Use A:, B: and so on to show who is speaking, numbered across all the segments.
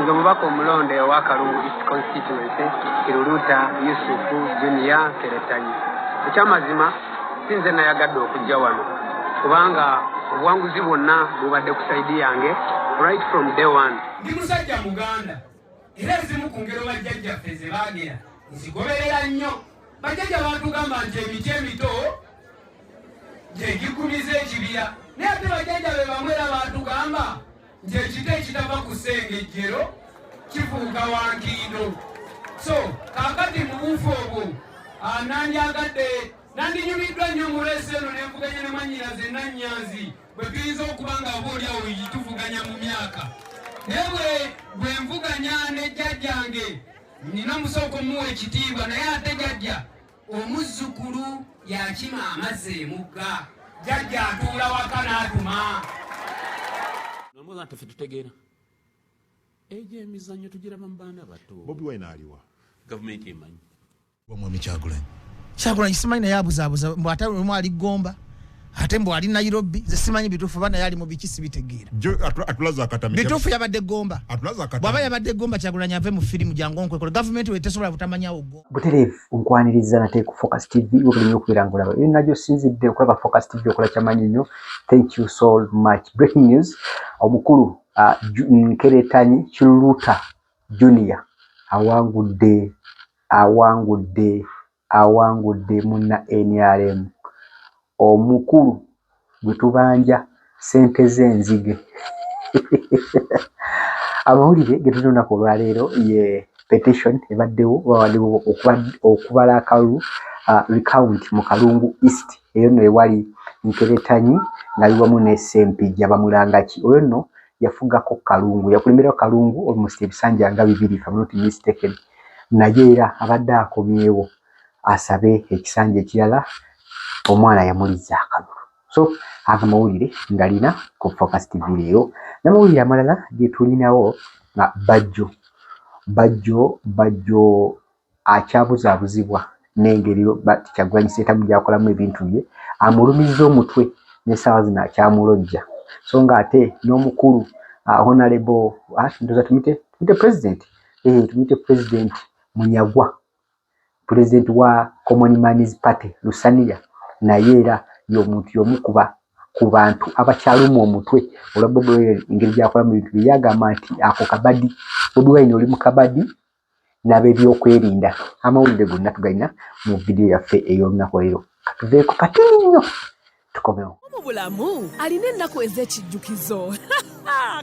A: nze omubaka omulonde owa kalungu east constituency kiruluta yusufu junia keretanyi ekyamazima si nze nayagadde okujja wano kubanga obuwanguzi bwonna bubadde ku saidi yange right from day one ndi musajja
B: muganda era ezimu ku ngero bajjajjaffe ze baagera nzigoberera nnyo bajjajja baatugamba nti emiti emito gyegikumiza ekibira naye ate bajjajja be bamu era baatugamba nti ekita ekitava ku sengejjero kifuuka wankindo so kakati mu buufu obwo ah, nandyagadde nandinyumiddwa nnyo mu leesi eno nenvuganya ne mwanyinaze nannyanzi bwe tuyinza okuba nga oba oli awo yituvuganya mu myaka naye bwe bwe nvuganya ne jjajjange nina musooka omuwa ekitiibwa naye ate jajja omuzzukulu yakima amazzi emugga jajja atuula waka n'atuma
C: nomwoza nti fe tutegeera egyo emizannyo tugiraba mu baana bato bobi wine aliwa
D: gavumenti emanyi
C: Mwami
D: Kyagulanyi.
E: Kyagulanyi simanyi naye abuzaabuza mbu ate omu ali Gomba ate mbu ali Nairobi nze simanyi bituufu bana yali mu biki sibitegeera. Atulaza akatami.
D: Bituufu yabadde Gomba.
E: Atulaza akatami. Bwaba yabadde Gomba Kyagulanyi ave mu firimu jangu onkwekole gavumenti we tesobola butamanyawo go. Butereevu onkwaniriza
F: nate ku Focus TV webuli nnyo okubeera ng'olaba eyo nagyo sinzidde okulaba Focus TV okola kyamanyi nnyo thank you so much. Breaking news omukulu uh, Nkeretanyi Kiruta Junior awangudde awangudde awangudde munna nrm omukulu gwe tubanja ssente ze nzige. Amawulire ge tulina olunaku olwaleero ye petition ebaddewo bawaddewo okubala akalulu uh, recount mu Kalungu East eyo nno ewali Nkeretanyi ng'ali wamu ne Ssempijja Bamulangaki oyo nno yafugako Kalungu yakulemberako Kalungu almost ebisanja nga bibiri if I'm not mistaken naye era abadde akomyewo asabe ekisanja ekirala omwana yamuliza akalulu so aga mawulire ngalina ku focus tv leero namawulire amalala getulinawo nga bajjo bajjo bajjo akyabuzabuzibwa nengeri kyagulanyi sentamu gyakolamu ebintu bye amulumizza omutwe nesaawa zino akyamulojja so nga ate nomukulu uh, honalebo uh, ah, ndoza tumite tumite president eh, tumite president munyagwa president wa common mans party lusaniya naye era yomuntu yomukuba ku bantu abakyalumwa omutwe olwa bobi wine engeri gyakola mu bintu bye yagamba nti ako kabadi bobi wine oli mu kabadi nabebyokwerinda amawulire gonna tugalina mu vidiyo yaffe ey'olunaku leero katuveeko katini nnyo tukomewo mu bulamu
G: alina ennaku ez'ekijjukizo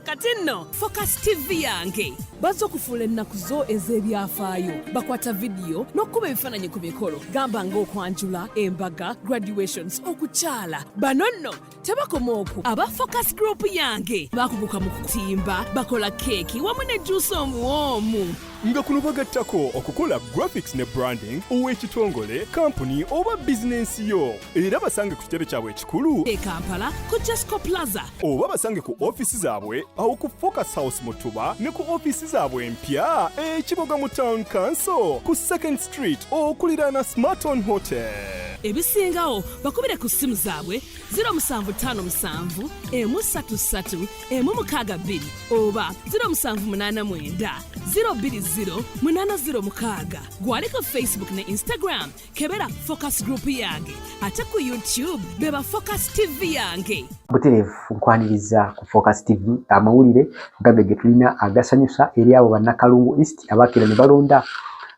G: kati nno focus tv yange bazze okufuula ennaku zo ez'ebyafaayo bakwata vidiyo n'okukuba ebifaananyi ku mikolo gamba ng'okwanjula embaga graduations okukyala bano nno tebakoma oku aba focus group yange bakuguka mu kutimba bakola keeki wamu ne juusi omuwoomu nga kuno
H: bagattako okukola graphics ne branding ow'ekitongole kampuni oba bizinensi yo era basange ku kitebe kyabwe ekikulu e kampala ku
G: jasco plaza oba basange ku
H: ofiisi zaabwe awo ku focus house mutuba ne ku ofiisi zaabwe empya ekiboga mu town council ku second street okuliraana smarton hotel ebisingawo
G: bakubire ku ssimu zaabwe 0757 emu 33 emu mukaaga bbiri oba 0789 020 806 gwali ku facebook ne instagram kebera focus group yange ate ku youtube beba focus tv yange butereevu
F: nkwaniriza ku focus tv amawulire gabe ge tulina agasanyusa eri abo bannakalungu east abakira ne balonda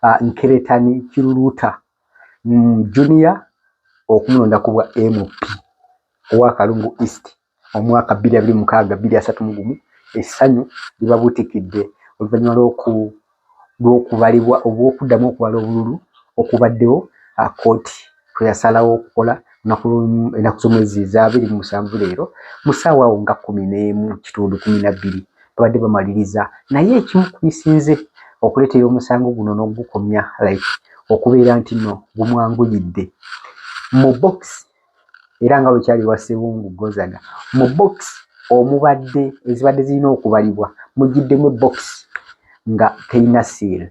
F: uh, nkeretani kiruluuta mm, junior okumulonda ku bwa mp owa kalungu east omwaka bbiri abiri mukaaga bbiri asatu mu gumu essanyu libabutikidde oluvannyuma lw'okubalibwa oba okuddamu okubala obululu okubaddewo kkooti kwe yasalawo okukola enaku z'omwezi eza abiri mu musanvu leero mu ssaawa awo nga kkumi n'emu kitundu kumi na bbiri babadde bamaliriza naye ekimu ku bisinze okuleetera omusango guno n'ogukomya like okubeera nti no gumwanguyidde mu bokisi era nga bwe kyali wa Ssebungu Gozaga mu box omubadde ezibadde zirina okubalibwa mugiddemu ebbokisi nga terina siiri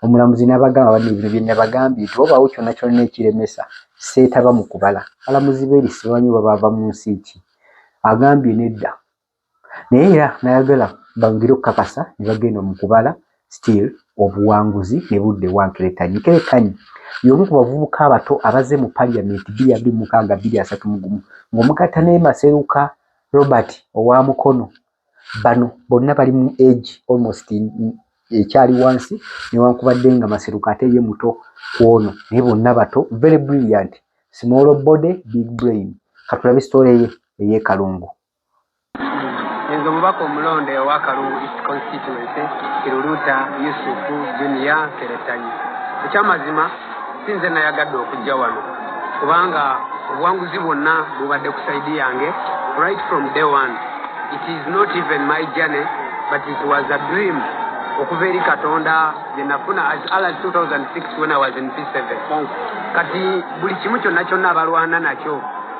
F: omulamuzi nabagamba bano ebino bye nabagambye nti wabaawo kyonna kyonna ekiremesa seetaba mu kubala balamuzi beerisibanyo babaava mu nsi ki agambye nedda naye era nayagala bangire okukakasa ne bagenda mu kubala still obuwanguzi ne budda ewa Nkeretanyi. Nkeretanyi y'omu ku bavubuka abato abazze mu paliyamenti bbiri abiri mu mukaaga bbiri asatu mu gumu ng'omugatta ne Maseruka Robert owa Mukono. Bano bonna bali mu age almost ekyali wansi newankubadde nga Maseruka ate ye muto ku ono naye bonna bato very brilliant small body big brain katulabe sitole ye ey'ekalungu.
A: Nze omubaka omulonde owa Kalungu East Constituency, Kiruluuta Yusufu Junior Keretanyi. Ekyamazima si nze nayagadde okujja wano kubanga obuwanguzi bwonna bubadde ku saidi yange right from day one. It is not even my journey but it was a dream okuva eri Katonda gye nafuna as early as 2006 when I was in P7. Kati buli kimu kyonna kyonna abalwana nakyo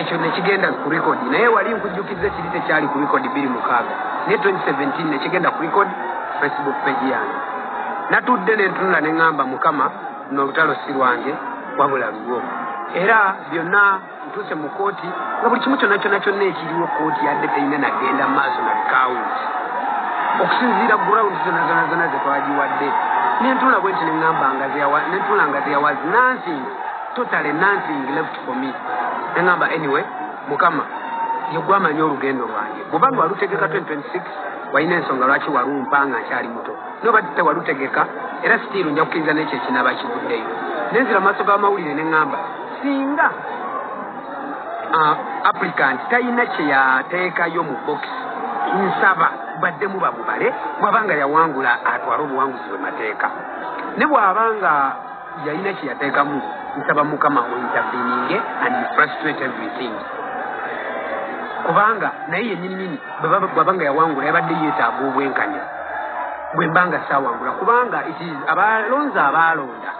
A: ekyo nekigenda ku record naye wali nkujjukiza ekiri tekyali ku record biri mukaaga naye 2017 nekigenda ku record facebook page yange natudde nentunula neŋamba mukama nolutalo si lwange wabula lulwo era byonna ntuuse mu kooti nga buli kimu kyonna kyonna kyonna ekiriwo kooti yadde terina nagenda maaso na bikawunti okusinziira ground zona zona zona zetwagiwadde nentunula bwenti neŋamba nga nentunula nga zeyawazi nansinga totale nansingi left for me nengamba anyway mukama yegwe amanyi olugendo lwange bwobanga walutegeka 2026 walina ensonga lwaki walumpa nga nkyali muto nobadde walutegeka era sitiiru nja kukkiriza nekyo ekinaba kivuddeyo nenzira maaso g'amawulire ne ŋŋamba singa ah, applicant talina kye yateekayo mu bokisi nsaba baddemu bamubale bw'abanga yawangula atwale obuwanguzi bwe mateeka ne bw'abanga yalina kyeyateekamu nsaba mukama ointerveninge and frustrate everything kubanga naye yenyininyini bwaba nga yawangula yabadde yeetaaga obwenkanya bwe mba nga saawangula kubanga abalonzi abaalonda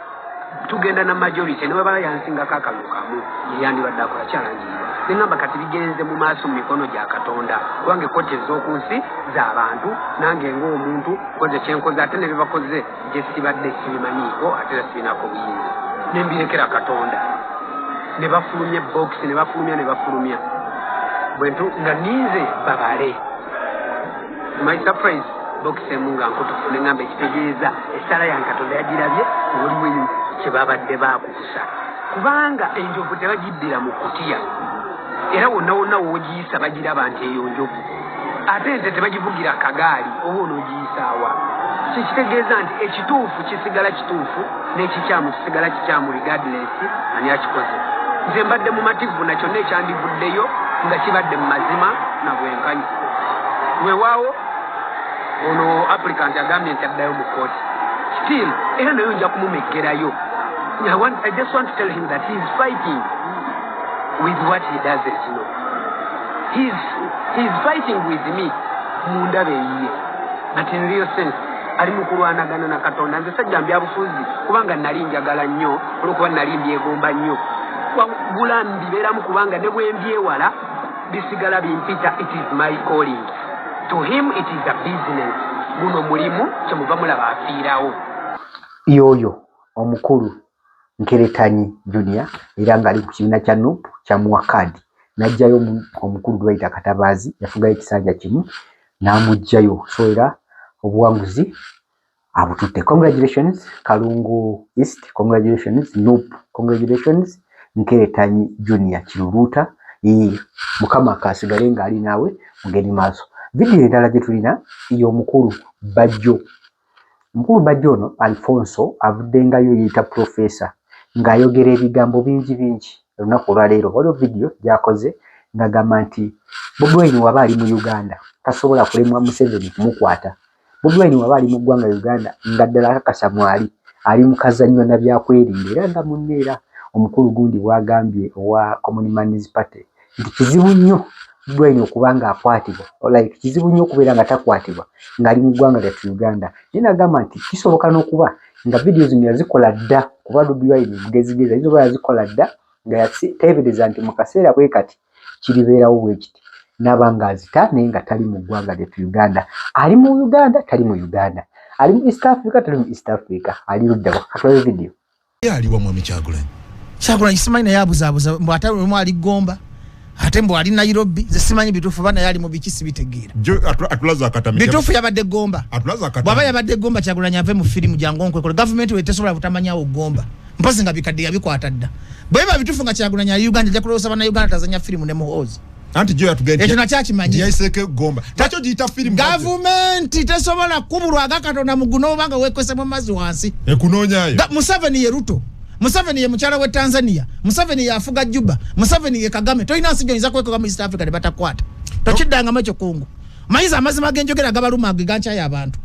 A: tugenda na majority ne webaba yansingako akalulu kamu yeyandibadde akola kyalangiribwa neŋamba kati bigenze mu maaso mu mikono gya katonda kubanga ekkooti ez'oku nsi z'abantu nange ng'omuntu koze kyenkoze ate ne bebakoze gye sibadde sibimanyiiko ate era sibinaako buyinza ne mbirekera katonda ne bafulumya bookisi ne bafulumya ne bafulumya bwentu nga ninze babale my surprise bookisi emu nga nkutufu ne ŋamba ekitegeeza essaala ya katonda yagirabye obulimu kye babadde baakukusa kubanga enjovu tebagiddira mu kutiya era wonna wonna woogiyisa bagiraba nti eyo njovu ate ente tebagivugira kagaali oba onoogiyisaawa kyekitegeeza nti ekituufu kisigala kituufu n'ekikyamu kisigala kikyamu regardless ani akikoze nze mbadde mumativu na kyonna ekyandivuddeyo nga kibadde mu mazima na bwenkanya weewaawo ono applicant agambye nti addayo mu kooti still era nayo nja kumumeggerayo I, want, I just want to tell him that he is fighting with what he doesn't know. He's, he's fighting with me mundaba eyiye but in real sense ali mu kulwanagana na katonda nze sajja mbyabufuzi kubanga nali njagala nnyo olwokuba nali mbyegomba nnyo wagula mbibeeramu kubanga ne bwembyewala bisigala bimpita it is my calling to him it is a business guno mulimu kyemuva mulaba afiirawo yoyo
F: omukulu Nkeretanyi Junior era ng'ali ku kibiina kya nup kyamuwa kkaadi n'aggyayo omukulu gwe bayita Katabaazi yafugayo ekisanja kimu n'amuggyayo so era obuwanguzi abututte. Congratulations Kalungu East, congratulations nup, congratulations Nkeretanyi Junior Kiruruuta. Ee, Mukama kaasigale ng'ali naawe mugende maaso. Vidiyo endala gye tulina y'omukulu Bajjo Mukulu Bajjo ono Alfonso avuddengayo yeeyita Professor ng'ayogera ebigambo bingi bingi olunaku olwaleero. Waliwo vidiyo gy'akoze ng'agamba nti Bobi Wine waba ali mu Uganda tasobola kulemwa Museveni kumukwata. Bobi Wine waba ali mu ggwanga Uganda nga ddala akakasa mwali ali mu kazannyo na byakwerinda era nga munne era omukulu gundi bw'agambye owa Common Man's Party. nti kizibu nnyo Brian okuba ng'akwatibwa like kizibu nnyo okubeera nga takwatibwa ng'ali mu ggwanga lyattu Uganda naye nagamba nti kisoboka n'okuba nga vidiyo zino yazikola dda kuba Bobi Wine mugezigezi ayinza oba yazikola dda nga yateebereza nti mu kaseera bwe kati kiribeerawo bwe kiti n'aba ng'azita naye nga tali mu ggwanga lyattu Uganda ali mu Uganda tali mu Uganda ali mu East Africa tali mu East Africa ali luddawa katulabe vidiyo Ye aliwa mwami
D: Kyagulanyi? Kyagulanyi simanyi
E: naye abuzaabuza mbu ate lumu ali Gomba ate mbu ali Nairobi ze simanyi bituufu bana yali mu biki sibitegeera. Atulaza akatamija.
D: Bituufu yabadde Gomba.
E: Atulaza akatamija. Bwaba yabadde
D: Gomba Kyagulanyi
E: ave mu firimu jangu onkwekole. Gavumenti we tesobola butamanyawo Gomba. Mpozi nga bikadde yabikwata dda. Bweba bituufu nga Kyagulanyi ali Uganda ajja kulowooza bana Uganda tazanya firimu ne muhoozi. anti jo yatugenda ekyo
D: nakyo akimanyi yayiseeko
E: egomba
D: takyo giyita firimu gavumenti
E: tesobola kubulwa aga katonda muguna oba nga wekwese mu mazzi wansi ekunoonyayo
D: museveni ye ruto
E: museveni ye mukyala we tanzania museveni yafuga juba museveni ye kagame tolina nsi gyoyinza kwekoga mu east africa ne batakwata tokiddangamu ekyo kungu manyi za amazima genjogera gabaluma ge gankyayo abantu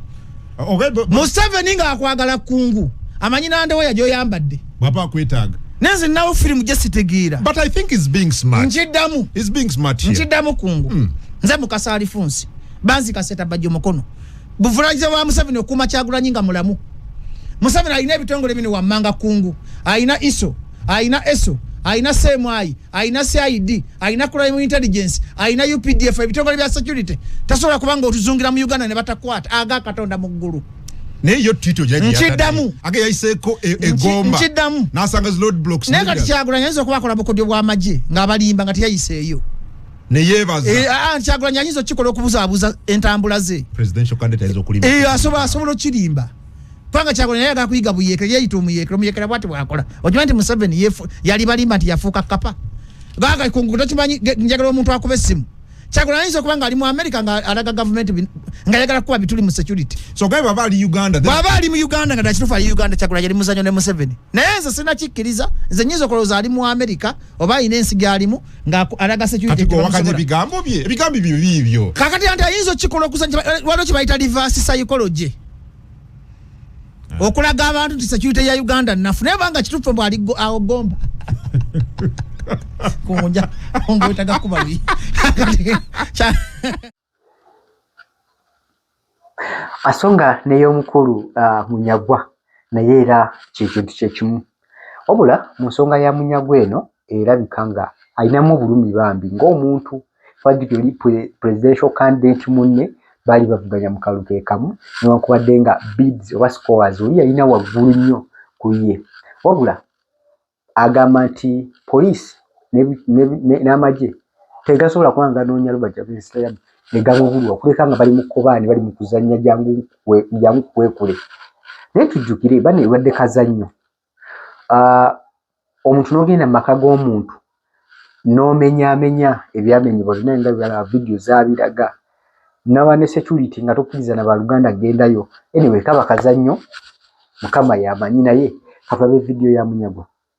E: okay, but, but, museveni nga akwagala kungu amanyi nandewo yajoyambadde bwaba akwetaaga
D: nenze nawo firimu
E: gyesitegeera but i think is being
D: smart nkiddamu is being
E: smart here
D: nkiddamu kungu mm.
E: nze mukasa alifunsi banzi kaseta bajjo mukono buvulagiza wa museveni okuuma kyagulanyi nga mulamu museveni alina ebitongole bino wammanga kungu alina iso alina eso alina seemwayi alina cid alina crime intelligence alina updf ebitongole bya security tasobola kubanga otuzungira mu uganda ne batakwata aga katonda mu ggulu naye yo tito
D: nkiddamu age
E: yayiseeko
D: e, egomba nkiddamu nasanga
E: zi load blocks
D: naye kati kyagula nyayinza okuba
E: akola bukodyo bw'amagye ng'abalimba nga teyayiseeyo neyebaza
D: eh, ah, ah, kyagula nyayinza okukikola
E: okubuzaabuza entambula ze
D: asobola okirimba
E: kubanga kyakola naye agala kuyiga buyeekera yeeyita omuyeekera omuyeekera bwati bwakola okimanyi nti museveni yali balimba nti yafuuka kapa gaga kungu tokimanyi njagala omuntu akuba essimu kyakola ayinza okuba nga ali mu amerika nga alaga gavumenti nga yagala kukuba bituli mu security sogaye baba ali
D: uganda baba ali mu uganda nga
E: nakitufu ali uganda kyakola yali muzanyo ne museveni naye nze sina kikkiriza nze nyinza okolowooza ali mu amerika oba alina ensi gyalimu nga alaga securityowakanya ebigambo
D: bye ebigambo byo biibyo kakati anti ayinza
E: okukikola okusanya waliwo kye bayita reverse psychology eh. okulaga abantu nti security ya uganda nafu naye banga kituffe mbw ali awo gomba kunja ongwetaga kubabi
F: asonga neyomukulu uh, munyagwa naye era kyekintu kyekimu Wabula mu nsonga ya Munyagwa eno erabika nga alinamu obulumi bambi ng'omuntu twajjukira oli presidential candidate munne baali bavuganya mu kalulu ke kamu newankubadde nga bids oba scores oli yalina waggulu nnyo ku ye wabula agamba nti poliisi n'amagye ne, ne, ne, ne, ne, ne, ne, ne, ne, ne, tegasobola kuba nga ganoonya lubaja lw'ensita ya negabubulwa okuleka nga bali mu kkobaane bali mu kuzannya jangu jangu kukwekule naye tujjukire bana ebadde kazannyo ah, omuntu n'ogenda mu maka g'omuntu n'omenyaamenya ebyamenyebwa byonna nga bibalaba vidiyo zabiraga naba ne security nga tokkiriza na baluganda gendayo anyway kaba kazannyo mukama yamanyi naye kavabe vidiyo ya munyagwa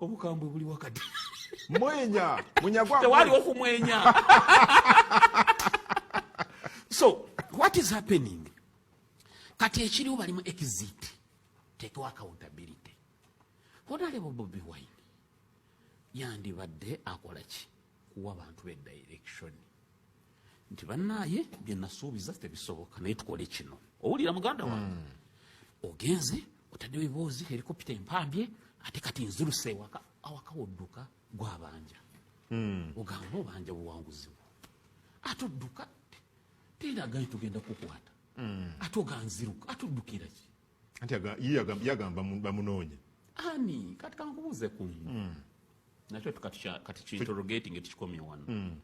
C: obukambwe buli wakati mwenya
D: munyagwa tewali okumwenya
C: so what is happening kati ekiriwo balimu exit tekewo accountability honalebo bobi wine yandibadde akola ki kuwa bantu be direction nti banaye byenasuubiza tebisoboka naye tukole kino owulira muganda wange mm. ogenze otaddewo eboozi helikopita empambye ate kati nziruse ewaka awaka wodduka gwabanja mm. ogamba obanja buwanguzi bwo ate odduka teraga nti tugenda kukwata mm. ate oganziruka ate oddukira ki anti
D: yagamba bamunoonya ani
C: kati kankubuuze ku mm. nakyo kati kinterrogating ekikomye wano hmm.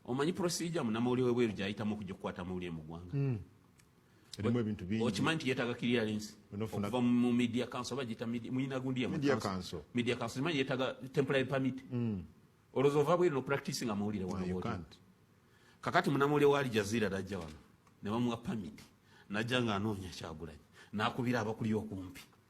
C: omanyi procedure munamawulire webweru gyayitamu okujja okukwata amawulire mu ggwanga hmm. erimu
D: ebintu bingi okimanyi nti yetaaga clearance
C: okuva mu media council oba giyita muyina gundi ya media council media council
D: okimanyi yetaaga
C: temporary permit hmm. olowooza ova bweru nopractice nga mawulire wano kakati munamawulire wa aljazira dajja wano ne bamuwa permit najja nga anoonya kyagulanyi nakubira abakuli okumpi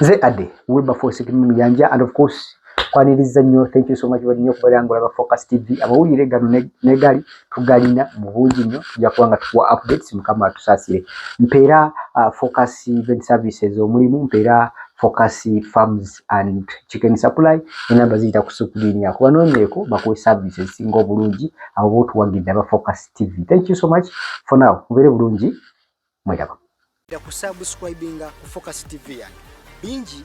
F: nze ade wilberforce muyanja and of course kwaniriza nnyo thank you so much bali nnyo okubeera nga olaba focus tv amawulire gano negali tugalina mu bungi nnyo tujja kuba nga tukuwa updates mukama atusaasire mpeera uh, focus event services omulimu mpeera focus farms and chicken supply enamba ziyita ku sukuliini ako banoonyeeko bakuwe services singa obulungi abo botuwagidde aba focus TV. Thank you so much for now. Mubere bulungi mwedaba.
I: Da kusubscribinga ku
F: Focus TV
I: yange. Bingi